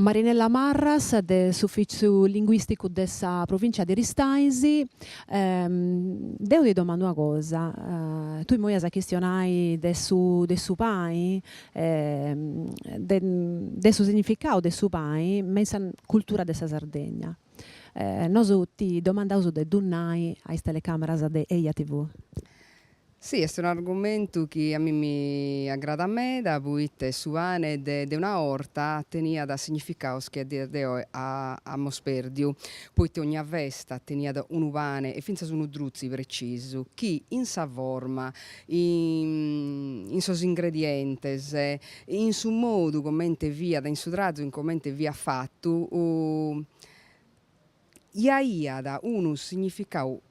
Marinella Marras de s'Ufìtziu Linguìsticu de sa Provìncia de Aristanis, deu ti domandu una cosa, tui imoi as a chistionai de su de su pani, de de su significau de su pani me in sa cultura de sa Sardegna. Nosu ti domandaus de ddu nai a is telecàmeras de Eia TV. Si, est un'argumentu chi a mi mi agradat meda poita su pane de de una 'orta teniat significados chi a dies de oe amus pèrdiu, poite ogna festa teniat unu pane e fintzas unu drutzi precisu chi in sa forma, in sos ingredientes, in su modu comente fiat, in su trazu in comente fiat fatu aiat unu significau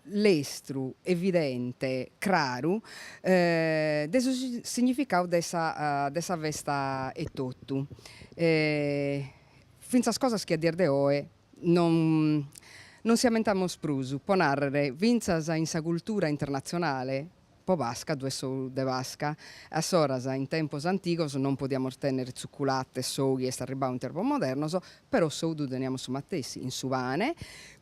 lestru, evidente, craru, de su significadu de sa de sa festa etotu. Fintzas cosas chi a dies de oe non si ammentamus prus, po narrer fintzas in sa cultura internatzionale Po Pasca ddu est s'ou de Pasca. A s'ora, in tempos antigos, non podiamus tènnere tzuculate, s'ou chi est arribau in tempos modernos, però s'ou ddu teniamus su matessi, in su pane,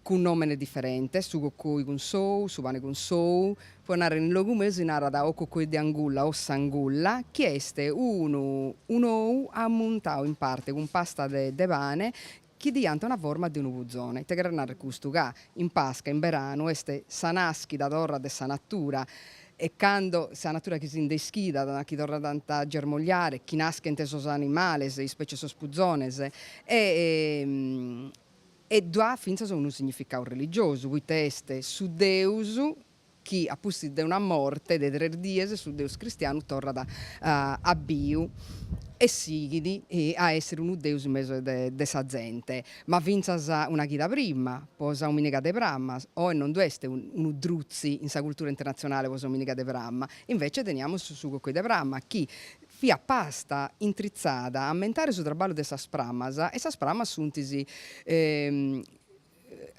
cun nòmene diferente, su cocoi cun s'ou, su pane cun s'ou, po narrer in logu meu si narat o cocoi de angulla o s'angulla, chi est unu un'ou ammuntau in parte cun pasta de de pane chi diant una forma de unu puzone, ite cheret narrer custu, ca in Pasca, in beranu, est sa nàschida torra de sa natura, est cando sa natura chi si nde ischidat, chi torrat a germogliare, chi naschent sos animales, in specie sos puzones, e e ddu at fintzas unu significadu religiosu, poita est su deus chi a pustis de una morte de tres dies su Deus cristianu torrat a biu e sighit a essere unu Deus in mesu de sa zente, ma fintzas una chida prima, po sa dominiga de pramma, oe non ddu est unu drutzi in sa cultura internatzionale po sa dominiga de pramma, invece teniamus su coccoi de pramma chi fiat pasta intritzada a ammentare su traballu de sas prammas e sas prammas sunt is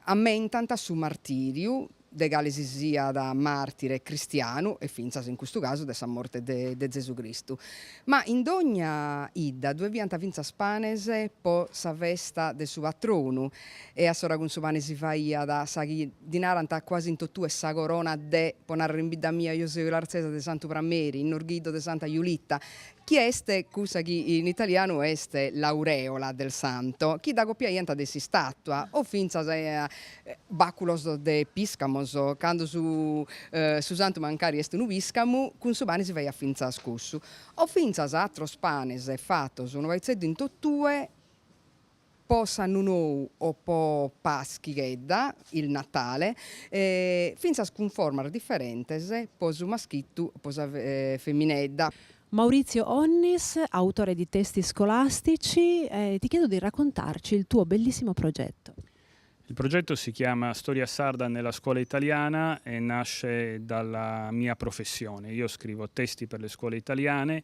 ammentant su martìriu de cale si siat màrtire cristianu e fintzas in custu casu de sa morte de Zesu Cristu. Ma in dogna 'idda ddoe fiant fintzas panes po sa festa de su patronu e a s'ora cun su pane si faiat sa chi ddi narant cuasi in totue sa corona de, po narrer in bidda mia, deo seo ilartzesa, de Santu Prameri, in Norghiddu de Santa Julitta, chi est cussa chi in italianu est l'aureola del santo, chi dd'agopiaiant de s'istàtua, o fintzas bàculos de pìscamos, cando su su santu mancari est unu pìscamu, cun su pani si faiat fintzas cussu, o fintzas atros panes fatos unu paitzeddu in totue, po s'annu nou o po Paschighedda, il Natale, e fintzas cun formas diferentes po su maschittu o po sa feminedda. Maurizio Onnis, autore di testi scolastici, ti chiedo di raccontarci il tuo bellissimo progetto. Il progetto si chiama Storia sarda nella scuola italiana e nasce dalla mia professione. Io scrivo testi per le scuole italiane,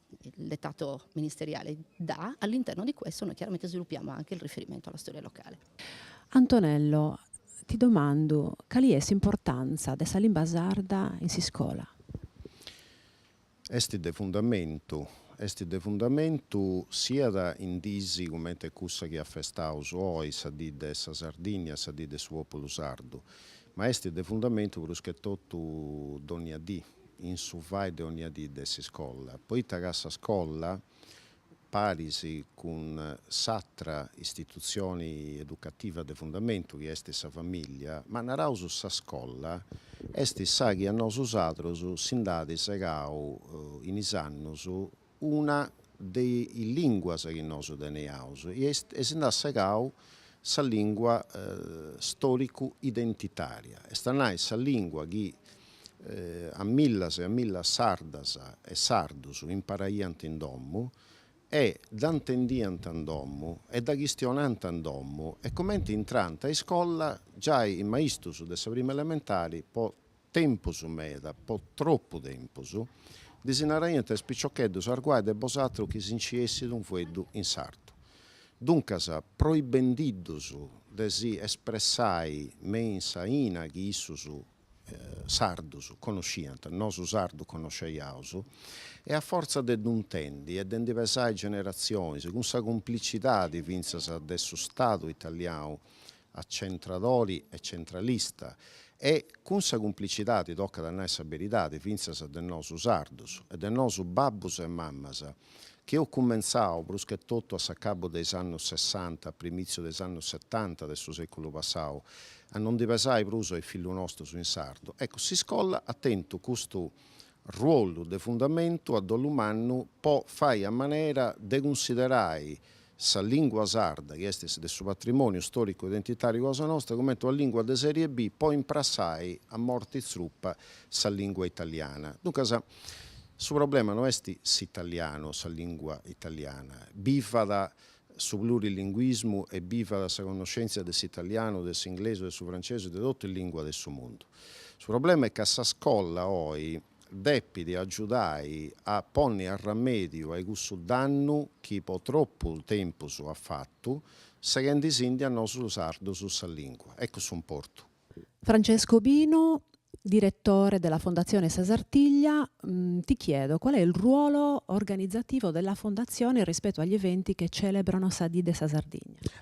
il dettato ministeriale dà, all'interno di questo noi chiaramente sviluppiamo anche il riferimento alla storia locale. Antonello, ti domandu cali est s'importanza de sa limba sarda in s'iscola? Est de fundamentu, est de fundamentu siat in dis cumenti cussa chi afestaus oi, sa dì de sa Sardìnnia, sa dì de su pòpulu sardu, ma est de fundamentu prus che totu dònnia dì. in su fai de onnia dì de s'iscola, poita ca sa scola, paris cun s'atra istitutzioni educativa de fundamentu chi est sa famìllia, ma naraus sa scola, est sa chi a nosusatros si nd'at segau in is annus una de is lìnguas chi nosu teniaus e si nd'at segau sa lìngua stòricu-identitària, est a nai sa lìngua chi a millas e a millas sardas e sardus imparaiant in domu e dda intendiant in domu e dda chistionant in domu e cumenti intrant a iscola giai is maistus de sa prima elementari po tempus meda, po tropu tempus, ddis naraiant a is piciocheddus arguai de bosatru chi si nci essit unu fueddu in sardu. Duncas, proibendiddus de si espressai me in sa 'ina chi issus, sardus, conosciant, nosu sardus conosceiaus, e a fortza de ddu intendi e de ndi pesai generatzionis, cun sa cumplicidadi fintzas de su Stadu italianu, acentradori e centralista e, cun sa cumplicidadi, tocat a nai sa beridadi, fintzas de nosu sardus e de nosu babbus e mammas, chi eus cumentzau pruschetotu a s'acabu de is annus sessanta, a primitziu de is annus setanta de su sèculu passau, a no ndi pesai prus a is fillus nostus in sardu. Eccu, s'iscola at tentu custu ruolu de fundamentu a dolu mannu po fai a manera de cunsiderai Sa lìngua sarda, chi est de su patrimòniu stòricu e identitàriu cosa nostra, cumenti una lìngua de sèrie B, po imprassai a morti tzrupa sa lìngua italiana. Duncas, su problema no est s'italianu, sa lìngua italiana. Bivat su plurilinguismu e bivat sa connoschèntzia de s'italianu, de s'inglesu, de su francesu e de totu is lìnguas de su mundu. Su problema est ca sa scola oi, depit agiudai a ponni arramèdiu a-i cussu dannu chi po tropu tempus at fatu, seghendi·sindi a nosu sardus sa lìngua. Ecus s'importu. Francesco Obino, diretore della Fondazione Sa Sartiglia, Ti chiedo qual è il ruolo organizzativo della Fondazione rispetto agli eventi che celebrano sa dì de sa Sardigna?